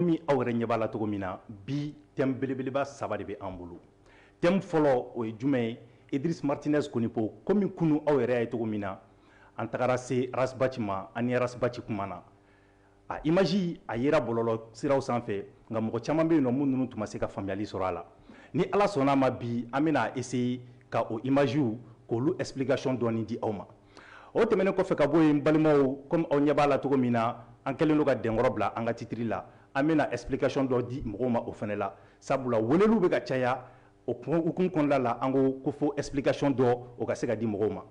Komi aw yɛrɛ ɲɛ b'a la cogo min na, bi thème belebeleba saba de bɛ an bolo. Thème fɔlɔ o ye jumɛn ye? Idriss Martinez Konipo, komi kunun aw yɛrɛ y'a ye cogo min na, an tagara se Ras Bath ma, an ni Ras Bath kumana. A image a yera bɔlɔlɔ siraw sanfɛ, nka mɔgɔ caman bɛ yen nɔ minnu tun ma se ka faamuyali sɔrɔ a la. Ni Ala sɔnn'a ma, bi an bɛna essayer ka o images k'olu explication dɔɔni di aw ma. O tɛmɛnen kɔfɛ ka bɔ yen balimaw comme aw ɲɛ b'a la cogo min na an kɛlen don ka dɛnkɔrɔ bila an ka titre la an bɛna explication dɔ di mɔgɔw ma o fana la sabula weleliw bɛ ka caya o hukumu kɔnɔna la an ko fo explication dɔ o ka se ka di mɔgɔw ma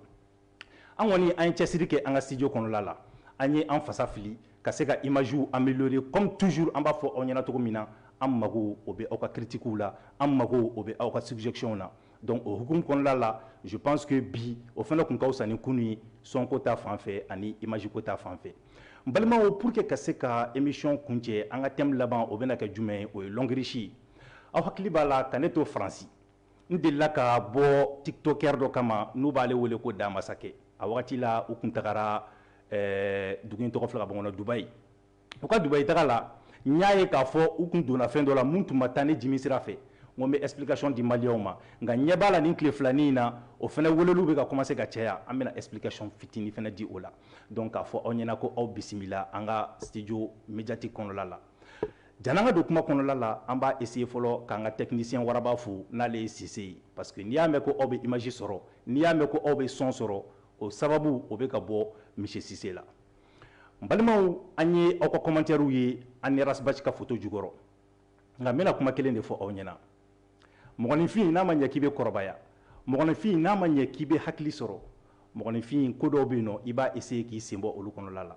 an kɔni an ye cɛsiri kɛ an ka studio kɔnɔna la an ye an fasa fili ka se ka images améliorer comme toujours an b'a fɔ aw ɲɛna cogo min na an mago o bɛ aw ka critiques la an mago o bɛ aw ka suggestions na donc o hukumu kɔnɔla la je pense que bi o fana kun ka fisa ni kunu ye son ko ta fan fɛ ani image ko ta fan fɛ n balimaw pour que ka se ka émission kuncɛ an ka thème laban o bɛna kɛ jumɛn ye o ye longrich aw hakili b'a la ka ne to faransi n delila ka bɔ tiktokɛr dɔ kama n'u b'ale wele ko da masakɛ a wagati la u kun tagara eh, dugu in tɔgɔ filɛ ka bɔ n kɔnɔ dubayi u ka dubayi taga la n y'a ye k'a fɔ u kun donna fɛn dɔ la min tun ma taa ne jimi sira fɛ n ko n bɛ explication di maliyɛnw ma nka n ɲɛ b'a la nin tile filanin in na o fana weleliw bɛ ka commencer ka caya an bɛna explication fitini fana di o la donc k'a fɔ aw ɲɛna ko aw bisimila an ka studio médiatique kɔnɔla la jan'an ka don kuma kɔnɔla la an b'a essayer fɔlɔ k'an ka technicien waraba fo n'ale ye sise ye parce que n'i y'a mɛn ko aw bɛ image sɔrɔ n'i y'a mɛn ko aw bɛ son sɔrɔ o sababu o bɛ ka bɔ monsieur sise la balimaw an ye aw ka kɔmantɛriw ye an ni ras bath ka foto jukɔrɔ nka n bɛna kuma kelen de fɔ aw ɲɛna mɔgɔninfin n'a ma ɲɛ k'i bɛ kɔrɔbaya mɔgɔninfin n'a ma ɲɛ k'i bɛ hakili sɔrɔ mɔgɔninfin ko dɔw bɛ yen nɔ i b'a eseye k'i sen bɔ olu kɔnɔla la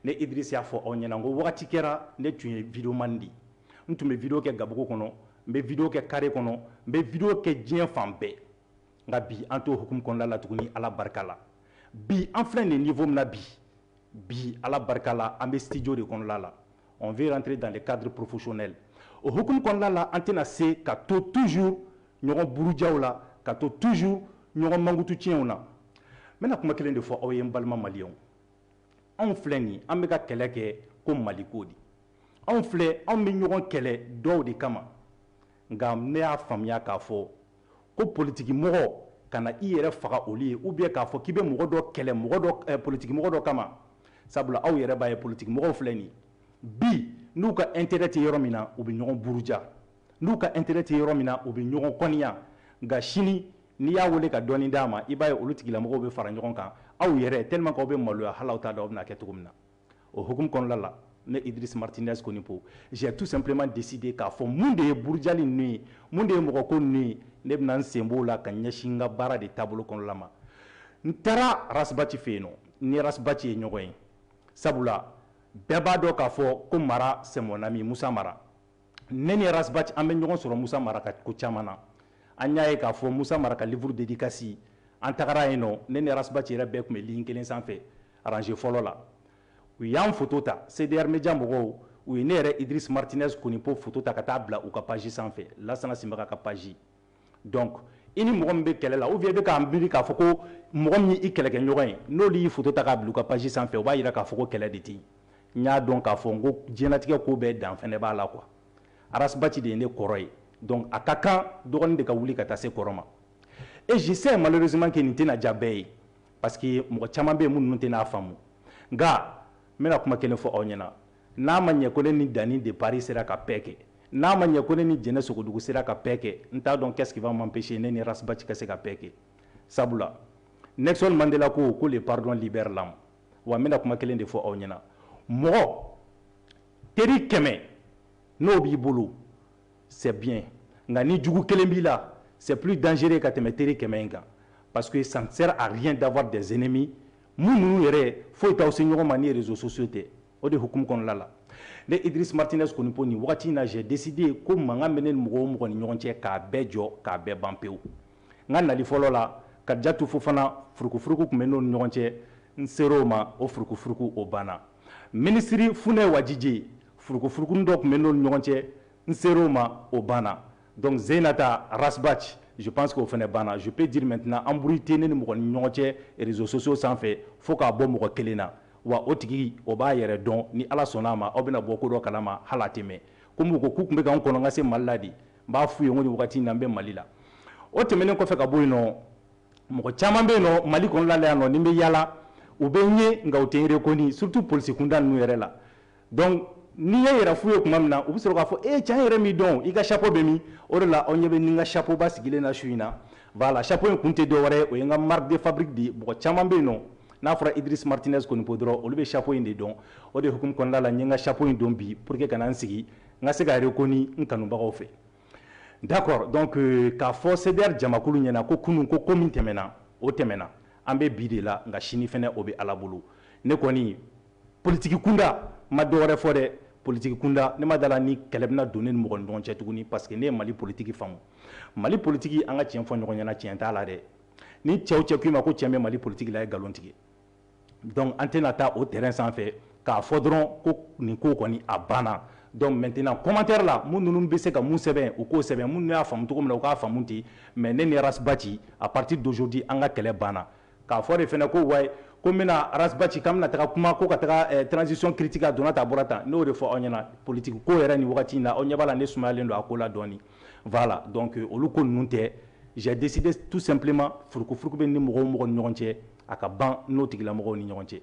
ne idirisi y'a fɔ aw ɲɛna ko wagati kɛra ne tun ye videomani di n tun bɛ video kɛ gabugu kɔnɔ n bɛ video kɛ kare kɔnɔ n bɛ video kɛ diɲɛ fan bɛɛ nka bi an t'o hukumu kɔnɔna la tuguni ala barika la bi an filɛ nin niveau min na bi bi ala barika la an bɛ studio de kɔnɔna la on veut rentrer dans le cadre professionnel o hukumu kɔnɔna la an tɛna se ka to toujours ɲɔgɔn burujaw la ka to toujours ɲɔgɔn mankutu tiɲɛw na n bɛna kuma kelen de fɔ aw ye n balima maliyɛnw anw filɛ nin an bɛ ka kɛlɛ kɛ ko maliko de anw filɛ anw bɛ ɲɔgɔn kɛlɛ dɔw de kama nka ne y'a faamuya k'a fɔ ko politikimɔgɔ kana i yɛrɛ faga olu ye ou bien k'a fɔ k'i bɛ mɔgɔ dɔ kɛlɛ mɔgɔ eh, politikimɔgɔ dɔ kama sabula aw yɛrɛ b'a ye politikimɔgɔw filɛ nin bi n'u ka intérêt tɛ yɔrɔ min na u bɛ ɲɔgɔn buruja n'u ka intérêt tɛ yɔrɔ min na u bɛ ɲɔgɔn kɔniya nka sini n'i y'a wele ka dɔɔni d'a ma i b'a ye olu tigilamɔgɔw bɛ fara ɲɔgɔn kan aw yɛrɛ tellement que aw bɛ maloya hali aw t'a dɔn aw bɛn'a kɛ cogo min na o hukumu kɔnɔla la ne idris martinez konipo j'ai tout simplement décidé k'a fɔ mun de ye burujali ninnu ye mun de ye mɔgɔ ko ninnu ye ne bɛna n sen b'o la ka ɲɛsin n ka baara de taabolo kɔnɔla ma n taara Ras Bath fɛ yen nɔ n ni Ras Bath ye ɲɔgɔn ye sabula bɛɛ b'a dɔn k'a fɔ ko mara c'est mon ami musa mara ne ni Ras Bath an bɛ ɲɔgɔn sɔrɔ musa mara ka ko caman na an y'a ye k'a fɔ musa mara ka livre dédicace an tagara yen nɔ ne ni Ras Bath yɛrɛ bɛɛ tun bɛ ligne kelen sanfɛ Rangée fɔlɔ la, u y'an foto ta. CDR Media mɔgɔw, u ye ne yɛrɛ Idriss Martinez Konipo foto ta ka taa bila u ka page sanfɛ, Lassana Sinbaga ka page. Donc, i ni mɔgɔ min bɛ kɛlɛ la ou bien i bɛ k'a miiri k'a fɔ ko mɔgɔ min y'i kɛlɛkɛɲɔgɔn ye, n'olu y'i foto ta k'a bila u ka page sanfɛ, o b'a jira k'a fɔ ko kɛlɛ de tɛ yen. N y'a dɔn k'a fɔ n ko diɲɛlatigɛ ko bɛɛ dan fɛnɛ b'a la quoi. Ras Bath de ye ne kɔrɔ ye, donc a ka kan dɔgɔnin de ka wuli ka taa se kɔrɔ ma. Et je sais malheureusement que nin tɛna diya bɛɛ ye. parce que mɔgɔ caman bɛ yen minnu tɛn'a faamu nka n bɛna kuma kelen fɔ aw ɲɛna n'a ma ɲɛ ko ne ni Dani de Paris sera ka paix kɛ n'a ma ɲɛ ko ne ni Jɛnɛ Sogodogo sera ka paix kɛ n t'a dɔn qu'est-ce qui va m'empêcher ne ni Ras Bath ka se ka paix kɛ sabula Nelson Mandela ko ko le pardon libère l'âme wa n bɛna kuma kelen de fɔ aw ɲɛna mɔgɔ teri kɛmɛ n'o b'i bolo c'est bien nka ni jugu kelen b'i la c'est plus dangereux ka tɛmɛ teri kɛmɛ in kan parce que ça ne sert à rien d'avoir des ennemis minnu yɛrɛ foyi t'aw se ɲɔgɔn ma ni réseaux sociaux tɛ o de hukumu kɔnɔla la ne Idriss Martinez Konipo nin wagati in na j'ai décidé ko mankan bɛ ne ni mɔgɔ o mɔgɔ ni ɲɔgɔn cɛ k'a bɛɛ jɔ k'a bɛɛ ban pewu n ka nali fɔlɔ la Kadijatu Fofana furukufuruku tun bɛ n'o ni ɲɔgɔn cɛ n ser'o ma o furukufuruku o banna Minisiri Funɛ Wajije, furukufurukunin dɔ tun bɛ n'olu ɲɔgɔn cɛ, n ser'o ma, o banna. Donc Zeinata Ras Bath, je pense que o fɛnɛ banna. Je peux dire maintenant embrouille tɛ ne ni mɔgɔ ni ɲɔgɔn cɛ réseaux sociaux sanfɛ fo k'a bɔ mɔgɔ kelen na. Wa o tigi, o b'a yɛrɛ dɔn, ni Ala sɔnna a ma, aw bɛna bɔ ko dɔ kalama, hali a tɛ mɛɛn. Comme u ko k'u tun bɛ ka n kɔnɔ n ka se Mali la de, n b'a f'u ye n ko nin wagati in na n bɛ Mali la. O tɛmɛnen kɔfɛ ka bɔ yen nɔ, mɔgɔ caman bɛ yen nɔ mali kɔnɔna la yan nɔ ni n bɛ yaala u bɛ n ye nka u tɛ n reconnu surtout polisi kunda ninnu yɛrɛ la donc n'i y'i yɛrɛ f'u ye tuma min na u bɛ sɔrɔ k'a fɔ e cɛ an yɛrɛ m'i dɔn i ka chapeau bɛ min o de la aw ɲɛ bɛ n ni n ka chapeau ba sigilen na su in na voilà chapeau in kun tɛ dɔwɛrɛ ye o ye n ka marque de fabrique de ye mɔgɔ caman bɛ yen nɔ n'a fɔra Idriss Martinez Konipo dɔrɔn olu bɛ chapeau in de dɔn o de hukumu kɔnɔna la n ye n ka chapeau in don bi pour que ka na n sigi n ka se ka reconnu n kanubagaw fɛ d'accord donc euh, k'a fɔ CDR jamakulu ɲɛna ko kunun ko ko min tɛmɛna o tɛmɛna an bɛ bi de la nka sini fɛnɛ o bɛ Ala bolo ne kɔni politiki kunda n ma dɔwɛrɛ fɔ dɛ politiki kunda ne ma d'a la ni kɛlɛ bɛna don ne ni mɔgɔ ni ɲɔgɔn cɛ tuguni parce que ne ye Mali politiki faamu Mali politiki an ka tiɲɛ fɔ ɲɔgɔn ɲɛna tiɲɛ t'a la dɛ ni cɛ o cɛ k'i ma ko cɛn bɛ Mali politiki la a ye nkalon tigɛ donc an tɛna taa o terrain sanfɛ k'a fɔ dɔrɔn ko nin ko kɔni a banna donc maintenant commentaire la minnu ninnu bɛ se ka mun sɛbɛn u k'o sɛbɛn minnu y'a faamu cogo min na u k'a faamu ten mais ne ni Ras Bath à partir d'aujourd'hui an ka kɛlɛ banna k'a fɔ de fana ko wayi ko n bɛna Ras Bath k'an bɛna taa kuma ko ka taa transition critiquer a donna tan a bɔra tan n y'o de fɔ aw ɲɛna politique ko yɛrɛ nin wagati in na aw ɲɛ b'a la ne sumayalen don a ko la dɔɔni voilà donc olu ko ninnu tɛ j'ai décidé tout simplement furukufuruku bɛ n ni mɔgɔ o mɔgɔ ni ɲɔgɔn cɛ a ka ban n'o tigilamɔgɔw ni ɲɔgɔn cɛ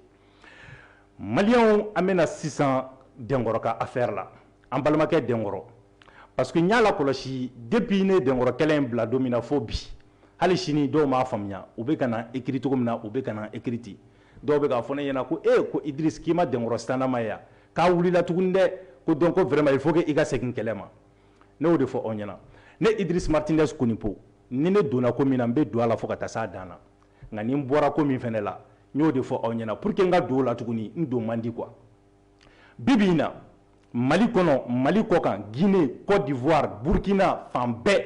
maliyɛnw an bɛna sisan dɛnkɔrɔ ka affaire la an balimakɛ dɛnkɔrɔ parce que n y'a lakɔlɔsi depuis ne dɛnkɔrɔ kɛlɛ in bila don min na fo bi hali sini dɔw m'a faamuya u bɛ ka na écrit cogo min na u bɛ ka na écrit ten dɔw bɛ k'a fɔ ne ɲɛna ko e ko Idriss k'i ma dɛnkɔrɔ sitanɛma ye wa k'a wulila tuguni dɛ ko donc ko vraiment il faut que i ka segin kɛlɛ ma ne y'o de fɔ aw ɲɛna ne Idriss Martinez Konipo ni ne donna ko min na n bɛ don a la fo ka taa s'a dan na nka ni n bɔra ko min fana la n y'o de fɔ aw ɲɛna pour que n ka don o la tuguni n don man di quoi bi bi in na mali kɔnɔ mali kɔ kan guinee cote d'ivoire burkina fan bɛɛ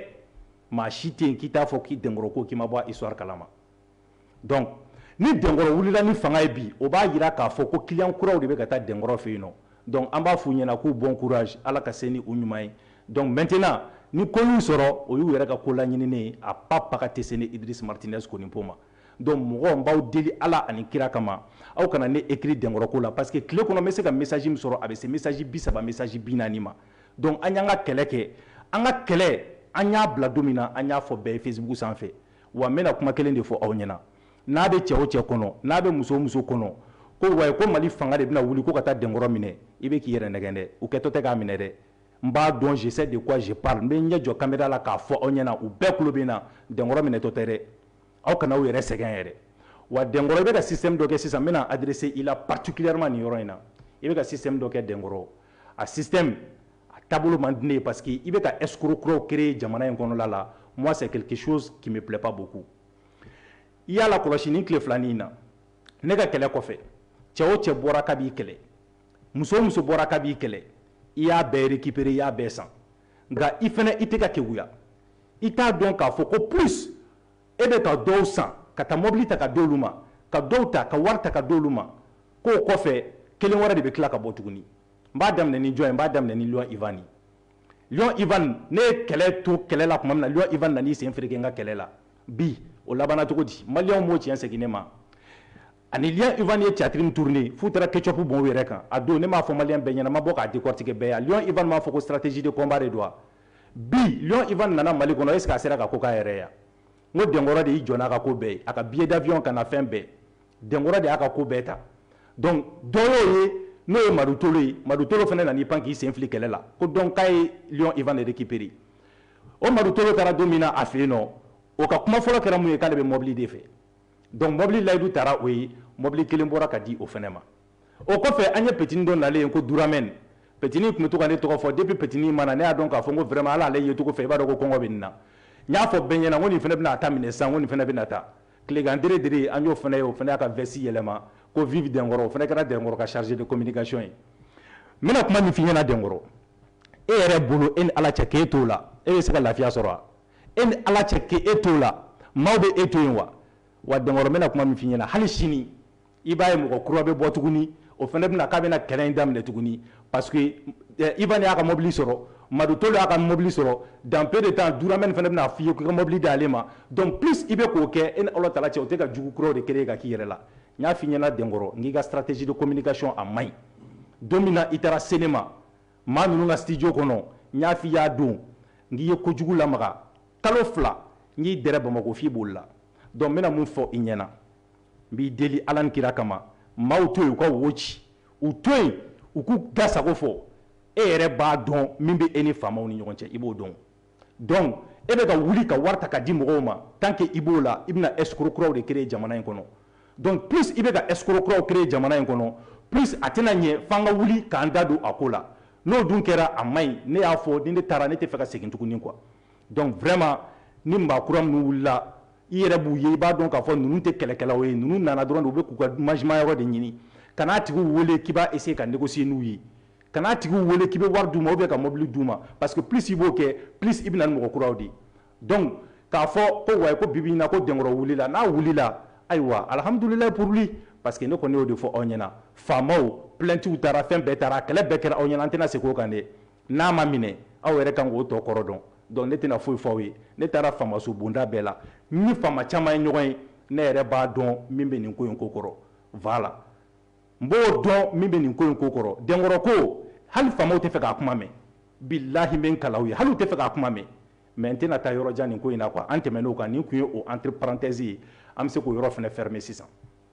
maa si tɛ yen k'i t'a fɔ k'i dɛnkɔrɔ ko k'i ma bɔ a histoire kalama donc ni dɛnkɔrɔ wulila ni fanga ye bi o b'a jira k'a fɔ ko client kuraw de bɛ ka taa dɛnkɔrɔ fɛ yen nɔ Donc an b'a f'u ɲɛna k'u bon courage Ala ka se ni u ɲuman ye donc maintenant ni ko y'u sɔrɔ o y'u yɛrɛ ka ko laɲininen ye a pas Paga tɛ se ne Idriss Martinez Konipo ma donc mɔgɔw n b'aw deli Ala ani kira kama aw kana ne écrit dɛnkɔrɔ ko la parce que tile kɔnɔ n bɛ se ka message min sɔrɔ a bɛ se message bi saba message bi naani ma donc an y'an ka kɛlɛ kɛ an ka kɛlɛ an y'a bila don min na an y'a fɔ bɛɛ ye Facebook sanfɛ wa n bɛna kuma kelen de fɔ aw ɲɛna N'a bɛ cɛ o cɛ kɔnɔ, n'a bɛ muso o muso kɔnɔ, ko wayi, ko Mali fanga de bɛna wuli ko ka taa dɛnkɔrɔ minɛ, i bɛ k'i yɛrɛ nɛgɛn dɛ, u kɛtɔ tɛ k'a minɛ dɛ, n b'a dɔn je sais de quoi je parle n bɛ n ɲɛ jɔ kamera la k'a fɔ aw ɲɛna, u bɛɛ tulo bɛ n na, dɛnkɔrɔ minɛtɔ tɛ dɛ, aw kana aw yɛrɛ sɛgɛn yɛrɛ, wa dɛnkɔrɔ, i bɛ ka système dɔ kɛ sisan, n bɛna adresser i la particulièrement nin yɔrɔ in na, i bɛ ka système dɔ kɛ dɛnkɔrɔ, a système, a taabolo man di ne ye parce que i bɛ ka escrocs kuraw créer jamana in kɔnɔla la, moi c'est quelque chose qui me plait pas beaucoup. i y'a lakɔlɔsi nin tile filanin in na ne ka kɛlɛ kɔfɛ cɛ o cɛ bɔra ka b'i kɛlɛ muso o muso bɔra ka b'i kɛlɛ i y'a bɛɛ récupérer i y'a bɛɛ san nka i fana i tɛ ka keguya i t'a dɔn k'a fɔ ko plus e bɛ ka dɔw san ka taa mobili ta ka d'olu ma ka dɔw ta ka wari ta ka d'olu ma k'o kɔfɛ kelen wɛrɛ de bɛ tila ka bɔ tuguni n b'a daminɛ ni jɔn ye n b'a daminɛ ni Lion Ivan ye i ne ye kɛlɛ to kɛlɛla tuma na i nan sen feere ka kɛlɛ la bi o laban cogo di mali b'o cɛn segin ne ma ani ɲɛ i ye catiri turunnen fu taara kecp b yɛrɛ kan a don ne m'a fɔ mali bɛ ɲɛnama bɔ k'a di kɔtigi bɛɛ yan jɔn i b'a fɔ ko siratisi de kɔnba de don wa bi i nana mali kɔnɔ e se a sera ka ko k'a yɛrɛ yan n ko dɔnkɔrɔ de y'i jɔn ka ko bɛɛ a ka bi dabiy ka na fɛn bɛɛ Dɛnkɔrɔ de y'a ka ko bɛɛ ta donc dɔ y'o ye n'o ye Madu Tolo ye Madu Tolo fana nan'i pan k'i sen fili kɛlɛ la ko donc k'a ye Lion Ivan de récupérer o Madu Tolo taara don min na a fɛ yen nɔ o ka kuma fɔlɔ kɛra mun ye k'ale bɛ mɔbili de fɛ donc mɔbili layidu taara o ye mɔbili kelen bɔra ka di o fana ma o kɔfɛ an ye petini dɔ nalen ye ko Duramɛn petini tun bɛ to ka ne tɔgɔ fɔ depuis petini in ma na ne y'a dɔn k'a fɔ ko vraiment ala ale yecogo fɛ i b'a dɔn ko kɔngɔ bɛ nin na n y'a fɔ bɛɛ ɲɛna ko nin fana bɛna a ta minɛ sisan ko nin fana bɛ na taa Tilekan diri diri an y'o fana ye o fana y'a ka veste yɛlɛma ko vive dɛnkɔrɔ o fana kɛra dɛnkɔrɔ ka chargé de communication ye n bɛna kuma min f'i ɲɛna dɛnkɔrɔ e yɛrɛ bolo e ni ala cɛ k'e t'o la e bɛ se ka lafiya sɔrɔ wa e ni ala cɛ k'e t'o la maaw bɛ e to yen wa wa dɛnkɔrɔ n bɛna kuma min f'i ɲɛna hali sini i b'a ye mɔgɔ kura bɛ bɔ tuguni o fana bɛna k'a bɛna kɛlɛ in daminɛ tuguni parce que eh, Ivan y'a ka mobili sɔrɔ Madu Tolo y'a ka mobili sɔrɔ dans peu de temps Duramɛn fana bɛna f'i ye k'i ka mobili di ale ma donc plus i bɛ k'o kɛ e ni Ala Taala cɛ o tɛ ka jugu kuraw de créer ka k'i yɛrɛ la n y'a f'i ɲɛna Dɛnkɔrɔ n k'i ka stratégie de communication a man ɲi don min na i taara cinéma maa ninnu ka studio kɔnɔ n y'a f'i y'a don n k'i ye kojugu lamaga kalo fila n k'i dɛrɛ Bamako f'i bolila donc n bɛna mun fɔ i ɲɛna n b'i deli ala ni kira kama maaw to yen u ka wo ci u to yen u k'u da sago fɔ e yɛrɛ b'a dɔn min bɛ e ni faamaw ni ɲɔgɔn cɛ i b'o dɔn donc e bɛ ka wuli ka wari ta ka di mɔgɔw ma tant que i b'o la i bɛna escroc kuraw de créer jamana in kɔnɔ donc plus i bɛ ka escroc kuraw créer jamana in kɔnɔ plus a tɛna ɲɛ f'an ka wuli k'an da don a ko la n'o dun kɛra a man ɲi ne y'a fɔ ni ne taara ne tɛ fɛ ka segin tuguni quoi donc vraiment ni maa kura minnu wulila i yɛrɛ b'u ye i b'a dɔn k'a fɔ ninnu tɛ kɛlɛkɛlaw ye ninnu nana dɔrɔn de u bɛ k'u ka mangement yɔrɔ de ɲini kan'a tigiw wele k'i b'a essayer ka négocier n'u ye kan'a tigiw wele k'i bɛ wari d'u ma ou bien ka mobili d'u ma parce que plus i b'o kɛ plus i bɛ na ni mɔgɔ kuraw de ye donc k'a fɔ ko wayi ko bibi in na ko dɛnkɔrɔ wulila n'a wulila ayiwa alhamdulilayi pour lui parce que ne kɔni y'o de fɔ aw ɲɛna faamaw plaintes taara fɛn bɛɛ taara kɛlɛ bɛɛ kɛra aw ɲɛna an tɛna segin o kan dɛ N'a ma minɛ aw yɛrɛ kan k'o tɔ kɔrɔ dɔn donc ne tɛna foyi fɔ aw ye ne taara faamaso bonda bɛɛ la n ni faama caman ye ɲɔgɔn ye ne yɛrɛ b'a dɔn min bɛ nin ko in ko kɔrɔ voilà n b'o dɔn min bɛ nin ko in ko kɔrɔ dɛnkɔrɔ ko hali faamaw tɛ fɛ k'a kuma mɛn bilahi n bɛ n kal'aw ye hali u tɛ fɛ k'a kuma mɛn mais n tɛna taa yɔrɔ jan nin ko in na quoi an tɛmɛn'o kan nin tun ye o entre parenthèse ye an bɛ se k'o yɔrɔ fana fermer sisan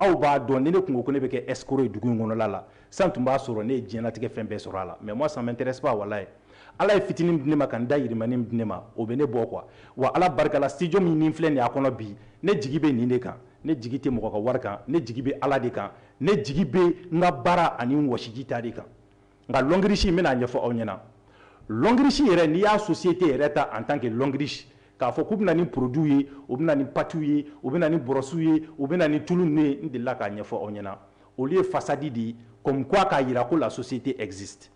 aw b'a dɔn ni ne kun ko ko ne bɛ kɛ escroc ye dugu in kɔnɔla la san tun b'a sɔrɔ ne ye diɲɛlatigɛ fɛn bɛɛ sɔrɔ a la mais moi ça m'intéresse pas walayi ala ye fitinin min di ne ma ka n da yirimani min di ne ma o bɛ ne bɔ quoi wa ala barika la studio min ni n filɛ nin y'a kɔnɔ bi ne jigi bɛ nin de kan ne jigi tɛ mɔgɔ ka wari kan ne jigi bɛ ala de kan ne jigi bɛ n ka baara ani n wɔsiji ta de kan Nka lɔngirisi, n bɛna a ɲɛfɔ aw ɲɛna. Lɔngirisi yɛrɛ, n'i y'a société yɛrɛ ta en tant que lɔngirisi, k'a fɔ k'u bɛna ni produits ye, u bɛna ni pâtes ye, u bɛna ni bɔrɔsiw ye, u bɛna ni tulu ninnu ye, n delila k'a ɲɛfɔ aw ɲɛna. Olu ye façade de ye comme quoi k'a jira ko la société existe.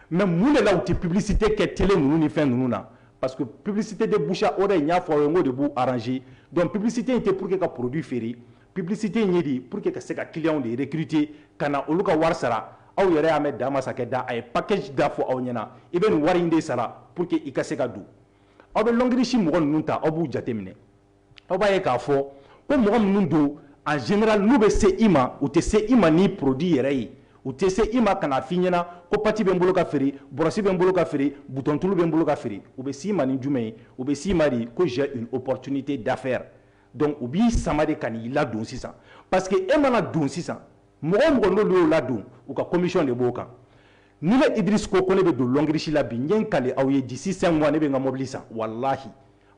Mais mun de la u tɛ publicité kɛ télé ninnu ni fɛn ninnu na? Parce que publicité de bouche à oreille n y'a fɔ aw ye n k'o de b'u arranger. Donc publicité in tɛ pour que ka produit feere. Publicité in ye de pour que ka se ka clients de recruter ka na olu ka wari sara, aw yɛrɛ y'a mɛn Dan Masakɛ da, a ye package da fɔ aw ɲɛna, i bɛ nin wari in de sara pour que i ka se ka don. Aw bɛ Lɔngirisi mɔgɔ ninnu ta, aw b'u jateminɛ, aw b'a ye k'a fɔ ko mɔgɔ minnu don, en général n'u bɛ se i ma, u tɛ se i ma ni produit yɛrɛ ye, u tɛ se i ma ka n'a f'i ɲɛna ko pati bɛ n bolo ka feere, bɔrɔsi bɛ n bolo ka feere, butɔntulu bɛ n bolo ka feere, u bɛ s'i ma ni jumɛn ye? U bɛ s'i ma de ko j'ai une opportunité d'affaires. Donc u b'i sama de ka n'i ladon sisan parce que e mana don sisan mɔgɔ o mɔgɔ n'olu y'o ladon u ka commission de b'o kan ni ne Idriss ko ne bɛ don lɔngirisi la bi n ye n kali aw ye d'ici cinq mois ne bɛ n ka mobili san walahi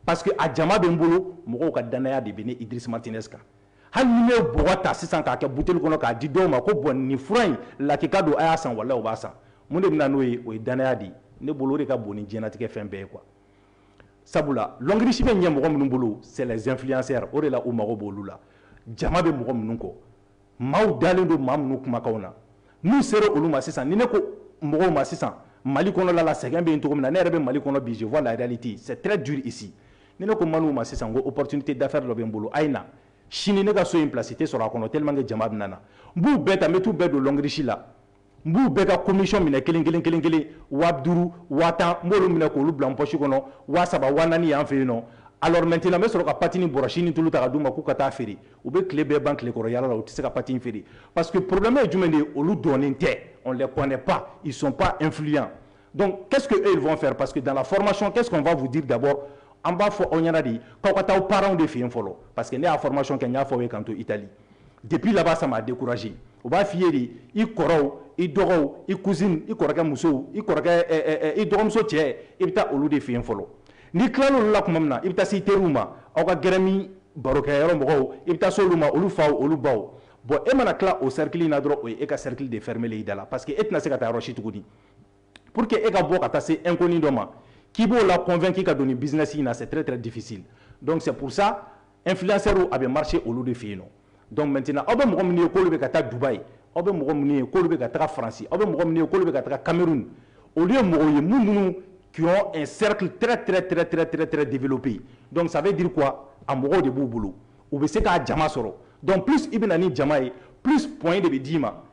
parce que a jama bɛ n bolo mɔgɔw ka danaya de bɛ ne Idriss Martinez kan hali ni ne ye bɔgɔ ta sisan k'a kɛ buteli kɔnɔ k'a di dɔw ma ko bon nin fura in lakika don a y'a san walahi u b'a san mun de bɛ na n'o ye o ye danaya de ye ne bolo o de ka bon ni diɲɛlatigɛ fɛn bɛɛ ye quoi sabula lɔngirisi bɛ ɲɛ mɔgɔ minnu bolo c'est les influenceurs o de la u mago b'olu la jama bɛ mɔgɔ minnu kɔ maaw dalen don maa minnu kumakan na n'u sera olu ma sisan ni ne ko mɔgɔw ma sisan mali kɔnɔla la sɛgɛn bɛ yen cogo min na ne yɛrɛ bɛ mali kɔnɔ bi je vois la réalité c'est très dur ici ni ne ko maliens ma sisan ko opportunité d'affaires dɔ bɛ n bolo a ye na sini ne ka so in place tɛ sɔrɔ a kɔnɔ tellement que jama bɛ na na n b'u bɛɛ ta n bɛ t'u bɛɛ don lɔngirisi la n b'u bɛɛ ka commission minɛ kelen kelen kelen kelen waa duuru waa tan n b'olu minɛ k'olu bila n poche kɔnɔ waa saba waa naani y'an fɛ yen nɔ alors maintenant n bɛ sɔrɔ ka pati ni bɔrɔsi ni tulu ta ka d'u ma k'u ka taa feere u bɛ tile bɛɛ ban tilekɔrɔ yaala la u tɛ se ka pati in feere parce que problème ye jumɛn de ye olu dɔnnen tɛ on les connaît pas ils sont pas influents donc qu'est-ce que eux ils vont faire parce que dans la formation qu'est-ce qu'on va vous dire d'abord an b'a fɔ aw ɲɛna de k'aw ka taa parents de fɛ yen fɔlɔ parce que ne y'a formation kɛ n y'a fɔ aw ye k'an to Italie depuis là-bas ça m'a découragé u b'a f'i ye de i kɔrɔw i dɔgɔw i cousine i kɔrɔkɛ musow i kɔrɔkɛ i dɔgɔmuso cɛ i bɛ taa olu de fɛ yen fɔlɔ n'i tilala olu la tuma min na i bɛ taa se i teriw ma aw ka gɛrɛn ni barokɛyɔrɔ mɔgɔw i bɛ taa se olu ma olu faw olu baw bon e mana tila o cercle in na dɔrɔn o ye e ka cercle de fermer i da la parce que e tɛna se ka taa yɔrɔ si tuguni pour que e ka bɔ ka taa se inconnu dɔ ma k'i b'o la convaincu ka don nin business in na c'est très très difficile donc c'est pour ça influenceurs a bɛ marcher olu de fɛ yen nɔ donc maintenant aw bɛ mɔgɔ minnu ye k'olu bɛ ka taa Dubaï aw bɛ mɔgɔ minnu ye k'olu bɛ ka taa France aw bɛ mɔgɔ minnu ye k'olu bɛ ka taa Cameroun olu ye mɔgɔw ye minnu qui ont un cercle très très très très très très développé donc ça veut dire quoi a mɔgɔw de b'u bolo u bɛ se k'a jama sɔrɔ donc plus i bɛ na ni jama ye plus points de bɛ d'i ma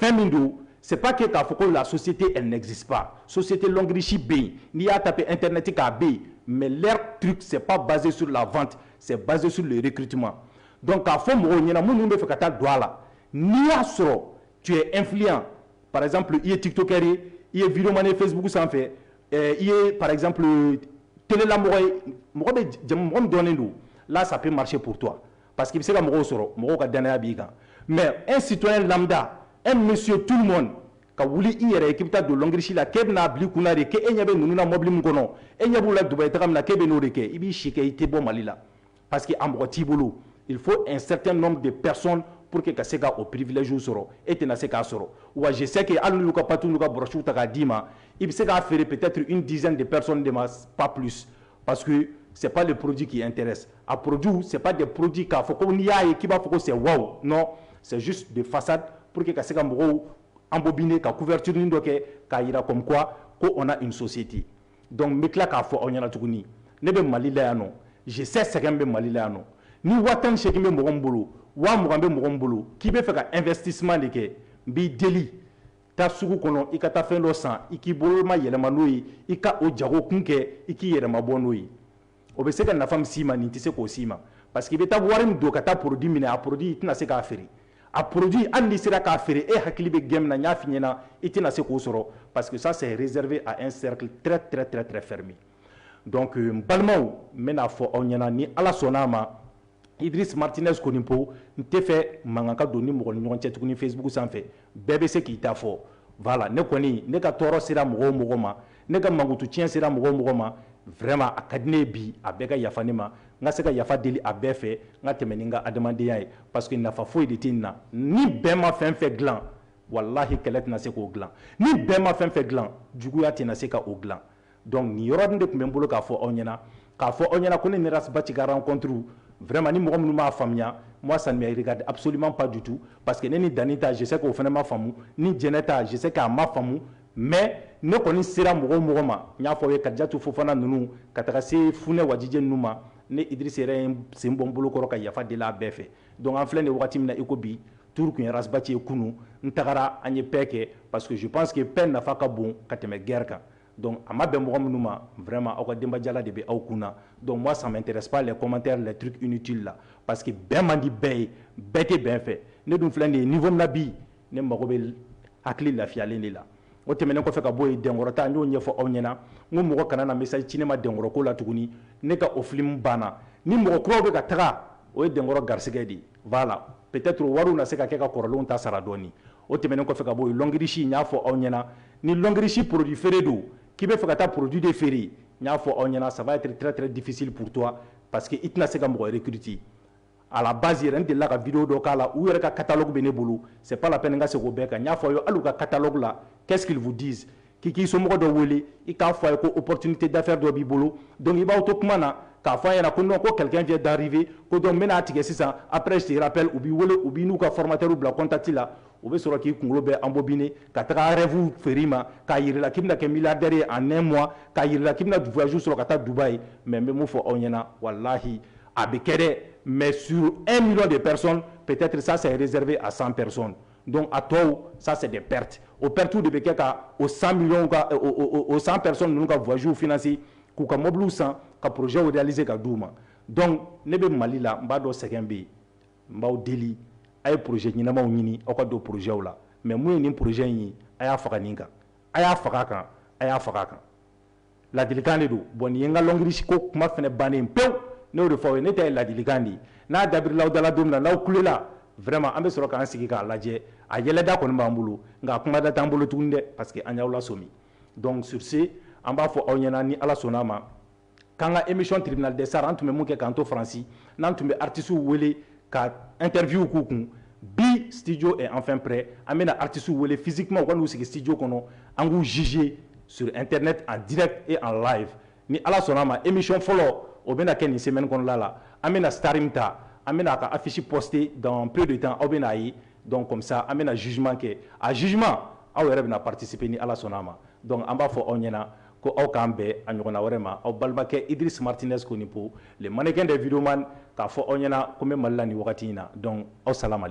fɛn min don c'est pas que k'a fɔ ko la société elle n'existe pas société Longrich bɛ yen n'i y'a taper internet kan a bɛ yen mais leur truc c'est pas basé sur la vente c'est basé sur le recrutement donc k'a fɔ mɔgɔw ɲɛna minnu bɛ fɛ ka taa don a la n'i y'a sɔrɔ tu es influent par exemple i ye tiktokeur ye i ye videomane ye facebook sanfɛ eh, i ye par exemple telelamɔgɔ ye mɔgɔ bɛ mɔgɔ min dɔnnen don là ça peut marcher pour toi parce que i bɛ se ka mɔgɔw sɔrɔ mɔgɔw ka dannaya b'i kan mais un citoyen lambda un monsieur tout le monde ka wuli i yɛrɛ ye k'i bɛ taa don Longrich la k'e bɛna'a bi kunna de k'e ɲɛ bɛ ninnu na mɔbili min kɔnɔ e ɲɛ b'u la Dubaï taga min na k'e bɛ n'o de kɛ i b'i si kɛ i tɛ bɔ mali la parce que a mɔgɔ t'i bolo il faut un certain nombre de personnes pour que ka se k'o privilège sɔrɔ e tɛna se k'a sɔrɔ moi je sais que hali y'u ka pâte u ka brossew ta k'a d'i ma i bɛ se k'a feere peut-être une dizaine de personnes de ma pas plus Parce que c'est pas le produit qui intéresse a produit c'est pas des produits k'a fɔ ko n'i y'a ye k'i b'a fɔ ko c'est waouh non c'est juste de façade pour que ka se ka mɔgɔw embobiner ka couverture nin dɔ kɛ k'a yira comme quoi ko on a une société donc n bɛ tila k'a fɔ aw ɲɛna tuguni ne bɛ Mali la yan nɔ je sais sɛgɛn bɛ Mali la yan nɔ ni waa tan ni seegin bɛ mɔgɔ min bolo waa mugan bɛ mɔgɔ min bolo k'i bɛ fɛ ka investissement de kɛ n b'i deli Taa sugu kɔnɔ i ka taa fɛn dɔ san i k'i boloma yɛlɛma n'o ye i ka o jago kun kɛ i k'i yɛlɛma bɔ n'o ye o bɛ se ka nafa min s'i ma nin tɛ se k'o s'i ma parce que i bɛ taa wari min don ka taa produit minɛ a produit i tɛna se k'a feere a produit hali n'i sera k'a feere e hakili bɛ gain min na n y'a f'i ɲɛna i tɛna se k'o sɔrɔ parce que ça c'est réservé à un cercle très très fermé donc n balimaw n bɛn'a fɔ aw ɲɛna ni ala sɔnn'a ma Idriss Martinez Konipo n tɛ fɛ mankan ka don ni mɔgɔ ni ɲɔgɔn cɛ tuguni Facebook sanfɛ bɛɛ bɛ se k'i ta fɔ voilà ne kɔni ne ka tɔɔrɔ sera mɔgɔ o mɔgɔ ma ne ka mankutu tiɲɛ sera mɔgɔ o mɔgɔ ma vraiment a ka di ne ye bi a bɛɛ ka yafa ne ma n ka se ka yafa deli a bɛɛ fɛ n ka tɛmɛ ni n ka adamadenya ye parce que nafa foyi de tɛ nin na ni bɛn ma fɛn fɛn dilan wallahi kɛlɛ tɛna se k'o dilan ni bɛn ma fɛn fɛn dilan juguya tɛna se k'o dilan Donc nin yɔrɔ nin de tun bɛ n bolo k'a fɔ aw ɲɛna, k'a fɔ aw ɲɛna ko ne ni Ras Bath ka rencontre vraiment ni mɔgɔ minnu m'a faamuya, moi ça ne me regarde absolument pas du tout parce que ne ni Dani ta je sais que o fana ma faamu, ni Jɛnɛ ta je sais que a ma faamu mais ne kɔni sera mɔgɔ o mɔgɔ ma, n y'a fɔ aw ye Kadijatu Fofana ninnu ka taga se Funɛ Wajijɛ ninnu ma, ne Idriss yɛrɛ ye n sen bɔ n bolo kɔrɔ ka yafa deli a bɛɛ fɛ. Donc an filɛ nin ye wagati min na iko bi, tour tun ye Ras Bath ye kunun, n tagara an ye paix kɛ parce que je pense que paix nafa ka bon ka tɛmɛ guerre kan. Donc a ma bɛn mɔgɔ minnu ma vraiment aw ka denbajala de bɛ aw kun na donc moi ça m'intéresse pas les commentaires les trucs inutiles là parce que bɛn man di bɛɛ ye bɛɛ tɛ bɛn fɛ ne dun filɛ nin ye niveau min na bi ne mago bɛ hakili lafiyalen de la o tɛmɛnen kɔfɛ ka bɔ yen Dɛnkɔrɔ ta n y'o ɲɛfɔ aw ɲɛna n ko mɔgɔ kana na message ci ne ma Dɛnkɔrɔ ko la tuguni ne ka o film banna ni mɔgɔ kuraw bɛ ka taga o ye Dɛnkɔrɔ garisigɛ de ye Voilà peut-être wariw na se ka kɛ ka kɔrɔlenw ta sara dɔɔni. O tɛmɛnen kɔfɛ ka bɔ yen, Longrich n y'a fɔ aw ɲɛna, ni Longrich produit feere don, k'i bɛ fɛ ka taa produit de feere, n y'a fɔ aw ɲɛna ça va être très très difficile pour toi parce que i tɛna se ka mɔgɔ recruter. À la base yɛrɛ, n delila ka vidéo dɔ k'a la, u yɛrɛ ka catalogue bɛ ne bolo, c'est pas la peine n ka segin o bɛɛ kan, n y'a fɔ aw ye hali u ka catalogue la, qu'est-ce qu'ils vous disent? K'i k'i somɔgɔ dɔ wele i k'a fɔ a ye ko opportunité d'affaires dɔ b'i bolo donc i b'aw to kuma na k'a fɔ a ɲɛna ko non ko quelqu'un vient d'arriver ko donc n bɛna a tigɛ sisan après je te rappelle u b'i wele u b'i n'u ka formateur bila contact la u bɛ sɔrɔ k'i kunkolo bɛɛ embobiner ka taga rêve feere i ma k'a yira i la k'i bɛna kɛ milliardaire ye en un mois k'a yira i la k'i bɛna voyage sɔrɔ ka taa Dubaï mais n bɛ mun fɔ aw ɲɛna walahi a bɛ kɛ dɛ mais sur un million de personnes peut-être ça c'est réservé à 100 personnes Donc a tɔw ça c'est des pertes o pertes de bɛ kɛ ka o 100 millions ka o 100 personnes ninnu ka voyages financer k'u ka mobiliw san ka projets réaliser ka d'u ma donc ne bɛ Mali la n b'a dɔn sɛgɛn bɛ yen n b'aw deli a ye projet ɲɛnamaw ɲini aw ka don projets la mais mun ye nin projet in ye a y'a faga nin kan a y'a faga a kan a y'a faga a kan. ladilikan de don bon nin ye n ka Longrich ko kuma fana bannen pewu n y'o de fɔ aw ye ne ta ye ladilikan de ye n'a dabirila aw da la don na n'aw kulela vraiment an bɛ sɔrɔ k'an sigi k'a lajɛ a yɛlɛda kɔni b'an bolo nka a kumada t'an bolo tuguni dɛ parce que an y'aw lasɔmi donc sur ce an b'a fɔ aw ɲɛna ni ala sɔnna a ma k'an ka émission tribunal des stars an tun bɛ mun kɛ k'an to faransi n'an tun bɛ artistes wele ka interview k'u kun bi studio est enfin prêt an bɛna artistes wele physiquement u ka n'u sigi studio kɔnɔ an k'u juger sur internet en direct et en live ni Ala sɔnna a ma émission fɔlɔ o bɛna kɛ nin semaine kɔnɔla la an bɛna star min ta an bɛna a ka affiche poster dans peu de temps aw bɛna a ye donc comme ça an bɛna jugement kɛ a jugement aw yɛrɛ bɛna participer ni Ala sɔnna a ma donc an b'a fɔ aw ɲɛna Ko aw k'an bɛn a ɲɔgɔnna wɛrɛ ma, aw balimakɛ Idriss Martinez Konipo, le mannequin des vidéomans, k'a fɔ aw ɲɛna ko n bɛ Mali la nin wagati in na. Donc aw salamalekum.